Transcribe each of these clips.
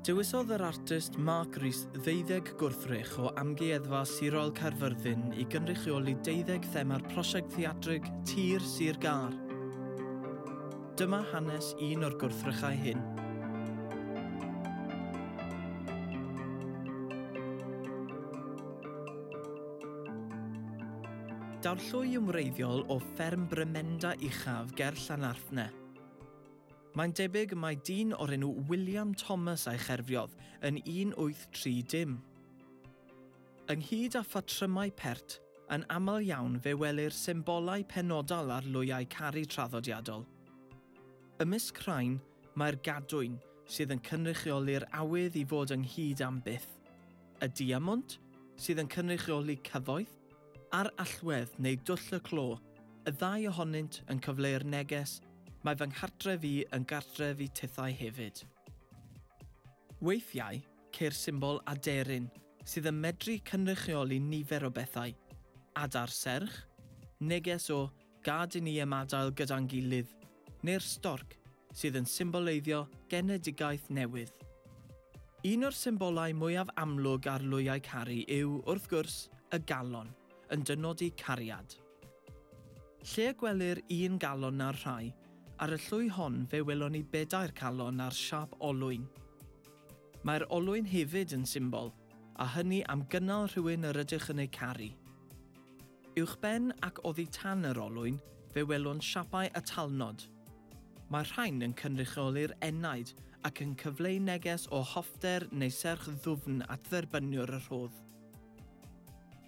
Dewisodd yr artist Mark Rees ddeuddeg gwrthrych o Amgueddfa Sirol Caerfyrddin i gynrychioli deuddeg thema'r prosiect theatrig Tir Sir Gar. Dyma hanes un o'r gwrthrychau hyn. Daw'r llwy yn wreiddiol o fferm Brymenda Uchaf ger Llanarthne. Mae'n debyg mai dyn o'r enw William Thomas a'i cherfiodd yn 1830. Ynghyd â phatrymau pert, yn aml iawn fe welir symbolau penodol ar lwyau caru traddodiadol. Ymysg rhain, mae'r gadwyn, sydd yn cynrychioli'r awydd i fod ynghyd am byth, y diamwnt, sydd yn cynrychioli cyfoeth, Ar allwedd neu dwll y clo, y ddau ohonynt yn cyfleu'r neges, Mae fy nghartref i yn gartref i tithau hefyd. Weithiau, ceir symbol aderyn sydd yn medru cynrychioli nifer o bethau, adar serch, neges o Gad i ni ymadael gyda'n gilydd, neu'r storc, sydd yn symboleiddio genedigaeth newydd. Un o'r symbolau mwyaf amlwg ar lwyau caru yw, wrth gwrs, y galon, yn dynodi cariad. Lle y gwelir un galon na'r rhai, ar y llwy hon fe welon ni bedair calon ar siâp olwyn. Mae'r olwyn hefyd yn symbol, a hynny am gynnal rhywun yr ydych yn eu caru. Uwchben ac oddi tan yr olwyn, fe welwn siapau y talnod. Mae'r rhain yn cynrychioli'r enaid ac yn cyfleu neges o hoffter neu serch ddwfn at dderbyniwr y rhodd.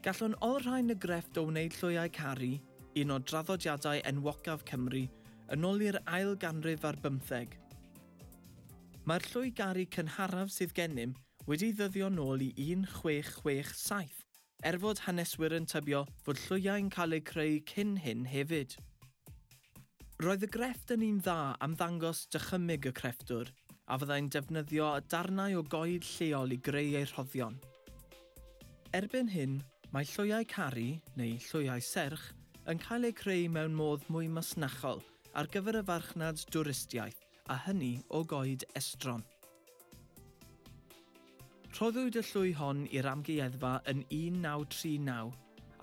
Gallwn olrhain y grefft o wneud lloiau caru, un o draddodiadau enwocaf Cymru, yn ôl i'r ail ganrif ar bymtheg. Mae'r lloi garu cynharaf sydd gennym wedi ddyddio nôl i 1667, er fod haneswyry'n tybio fod llwyau'n cael eu creu cyn hyn hefyd. Roedd y grefft yn un dda am ddangos dychymyg y crefftwr, a fyddai'n defnyddio darnau o goed lleol i greu ei rhoddion. Erbyn hyn, mae llwyau carri, neu llwyau serch, yn cael eu creu mewn modd mwy masnachol ar gyfer y farchnad dwristiaeth, a hynny o goed estron. Rhoddwyd y llwy hon i'r Amgueddfa yn 1939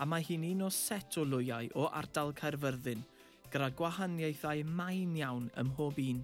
a mae hi'n un o set o lwyau o ardal Caerfyrddin gyda gwahaniaethau main iawn ym mhob un.